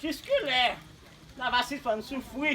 Jiskilè n ava sispàn soufri?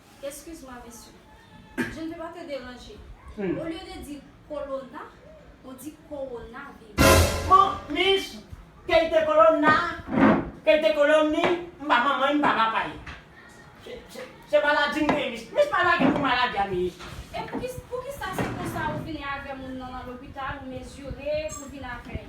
Excuse moi monsieur, je ne veux pas te déranger, au lieu de dire colonna, on dit coronavirus. Bon, Miss, ke l te kolonna, ke l te kolonni, m pa manman li, m pa papa li. Se maladi m genyen, Miss. Miss pa lage pou maladi a, Miss. E poukisa se konsa ou vini avè moun nan nan lopital ou mezire pou vin avè l?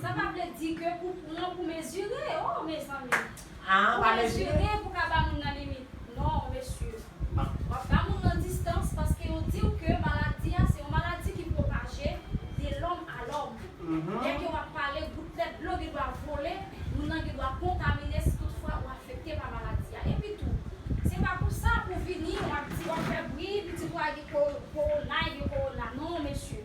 Sa pa vle di ke pou pran pou mezire oh mezanmi pou mezire pou ka ba moun nan limit non mesye wap ba moun nan distans paske yo diw ke maladi a se yon maladi ki pwopaje de lòm a lòm lè ke wap pale gout lèt dlo gen dwa vole moun nan gen dwa kontamine si tout fwa ou afekte pa maladi a epi tou se pa pou sa pou vini wap di wap fè bri pitit ou a gen koronay gen korona non mesye.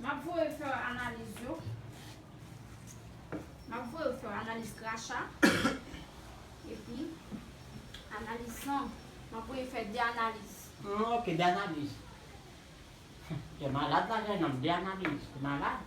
Map voye fè w analiz yo. Map voye w fè analiz kracha. Epi analiz san. Map voye fè de analiz. Hum ok de analiz. Gen malad la kay nan de analiz. Ou malad.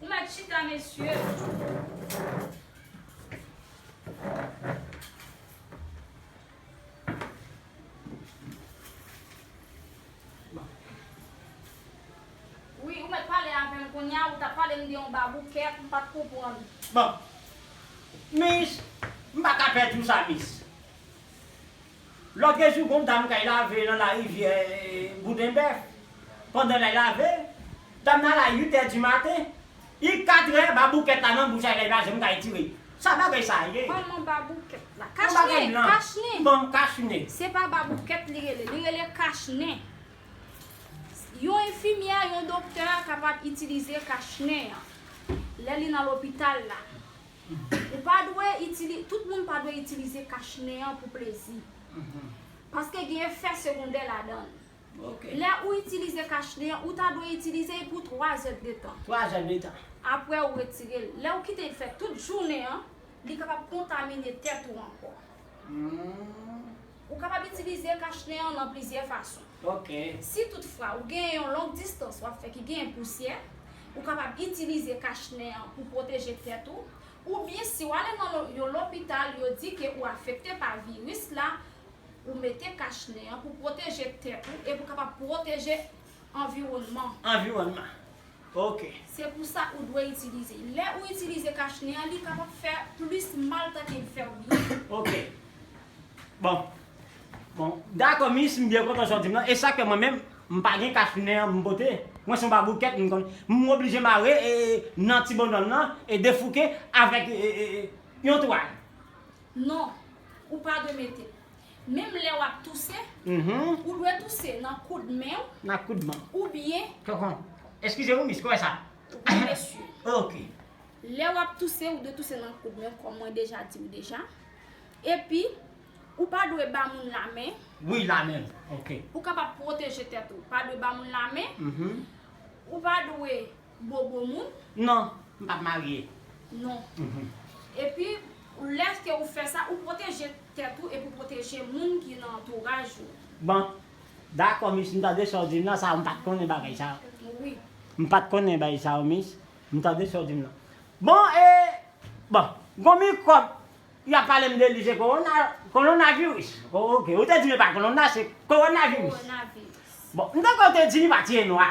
Ou met chita mesye. Wi ou met pale avem kounya ou tap palem de yon baboukèt mpat konprann. Bon. Miss, m pa ka pè di w sa miss. Loke jou gon dam kay lave nan la rivyè bouden bèf pandan lay lave dam nan la 8 è di maten i 4 è baboukèt la nan bouch lay la janm kay tire sa bagay sa ye Manman baboukèt la. Kach nen, kach nen. Bon kach nen. Se pa baboukèt li rele, li rele kach nen. Yon enfimyè, yon doktè kapab itilize kach nen an lè li nan lopital la. Ou pa dwe itilize, tout moun pa dwe itilize kach nen an pou plezi. Paske gen efè segondè ladan l. Lè ou itilize kach nen an, ou ta dwe itilize l pou 3 zèd de tan. Apre ou retire l. Lè ou kite l fè tout jounen an, li kapab kontamine tèt ou ankò. Ou kapab itilize kachnen an nan plizyè fason. Si tout fwa ou gen yon long distans w ap fè ki genyen pousyè, ou kapab itilize kachnen an pou pwoteje tèt ou, oubyen si w ale nan yon lopital yo di ke ou afekte pa viris la, ou mete kachnen an pou pwoteje tèt ou e pou kapab pwoteje Anviwònman. Anviwònman. Ok. Se pou sa ou dwe itilize. Lè ou itilize kach nen an li kapab fè plis mal tanke li fè ou byen. Ok. Bon. Bon. Dakò mis, m byen kontan sa w di m lan. E sa k fè mwen menm, m pa gen kach nen an pou m pote. Mwen se yon baboukèt m konn. M oblije mare e nan ti bondòl lan e defouke avèk yon twal. Non. Ou pa dwe mete. Menm lè wap touse, ou dwe touse nan koud men ou, oubyen. Tonton, eskize wi mis, kouwè sa? Wi mesye. Ok. Lè wap touse, ou dwe touse nan koud men ou kòm mwen deja di ou deja. Epi, ou pa dwe ba moun la men. Wi, la men, ok. Ou kapab pwoteje tèt ou. Pa dwe ba moun la men. Ou pa dwe Ou bo gwo moun? Non, m pa marye. Non. Epi, lèske ou fè sa, ou pwoteje tèt ou epi ou pwoteje moun ki nan antouraj ou. Bon. Dakò, mis, m tande sa w di m nan. Sa yo, m pa t konnen bagay sa yo. Wi. M pa t konnen bagay sa yo, mis. M tande sa w di m nan. Bon, e, bon, gon mikwòb y ap pale m de li, se kowona, kolonnavirus. Oke. Ou te di m e pa kolonna, se kowonaviris. Kowonaviris. Bon, m ta kwè ou te di li pa ti e nwa.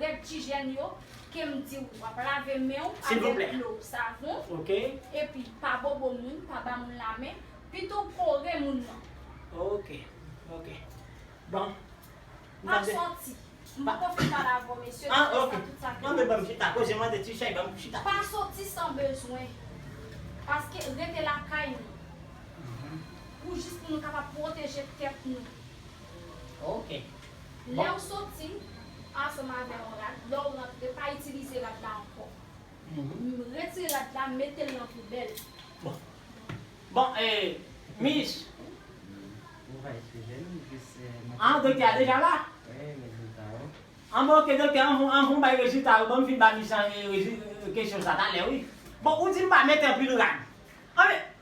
Red ti jèn yo, kem diw wap lave menw avek dlo, savon, epi pa bobo moun, pa ba moun la men, pitow kore moun nan. Ok ok bon. Map soti. M poko fin pale avèw mesye se pou sa tout sa fini. Pa soti san bezwen. Paske rete lakay nou. Pou jis pou nou kapab pwoteje tèt nou. Ok. Lè ou soti, ansanm avè yon rad, lè ou rantre, pa itilize rad la ankò. Retire rad la, mete l nan poubèl. Bon. Bon, e, Miss. Ou va itilize l, jis mwen. An, doktè a deja la? Wi, rezilta yo. An bon, ok, doktè, anvan ou bay rezilta yo, ban m fin ba Miss an, e, rezi, kesyon sa talè, wi. Bon, ou di m pa mete anpil rad. An men,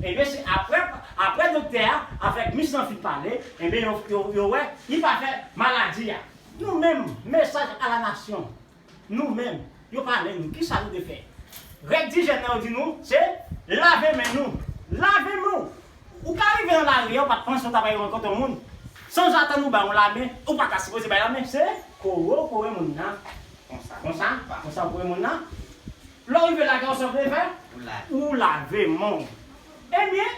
Ebyen se aprè aprè doktè a avèk mis lan fin pale ebyen yo yo yo wè li pa fè maladi a. Nou menm mesaj a la nasyon nou menm yo pale nou kisa nou te fè règ dijèn nan yo di nou se lave men nou lave men w ou ka rive nan lari a ou pat panse ou ta pral rankontre yon moun sanzatann ou bay on lamen ou pa ta sipoze bay lamen se kore w kore moun nan konsa konsa pa konsa ou kore moun nan Lè w rive lage w san prevè, ou lave men w. Ebyen,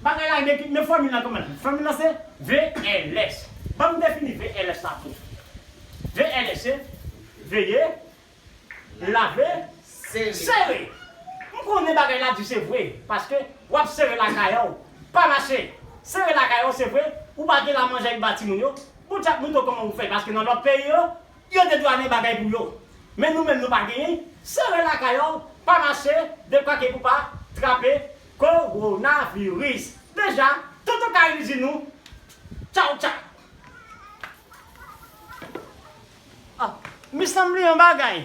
bagay la gen ki, men fòmil la kòman l ye? Fòmil la se VLS. Ban m defini VLS la pou ou. VLS se, veye, lave, sere. M konnen bagay la di se vre, paske w ap sere lakay an w, pa mache. Sere lakay an w se vre, ou pa gen la manjè ki ba timoun yo, bon chat mouton kòman ou fè, paske nan lòt peyi yo, Yo te dwanen bagay pou yo. Men nou menm nou pa genyen, sere lakay w, pa mache, de pake pou pa trape Kowonaviris. Deja, Tonton Kayil di nou tchaw tchaw. Ah, me sanble yon bagay.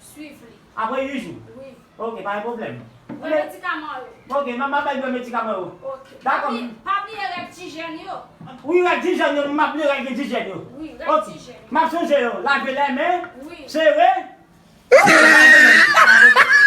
Swiv li. Apre 8 jou? Wi. Ok, pa gen pwoblèm. Bwè medikaman yo. Ok, m ap bay bwè medikaman yo. Ok. Dakò m. Pa bliye règ ti jèn yo. Wi, règ ti jèn yo, m pa bliye règ ti jèn yo. Wi, règ ti jèn yo. M ap sonje yo, lave lè men. Wi. Sere. Ok, pa gen pwoblèm.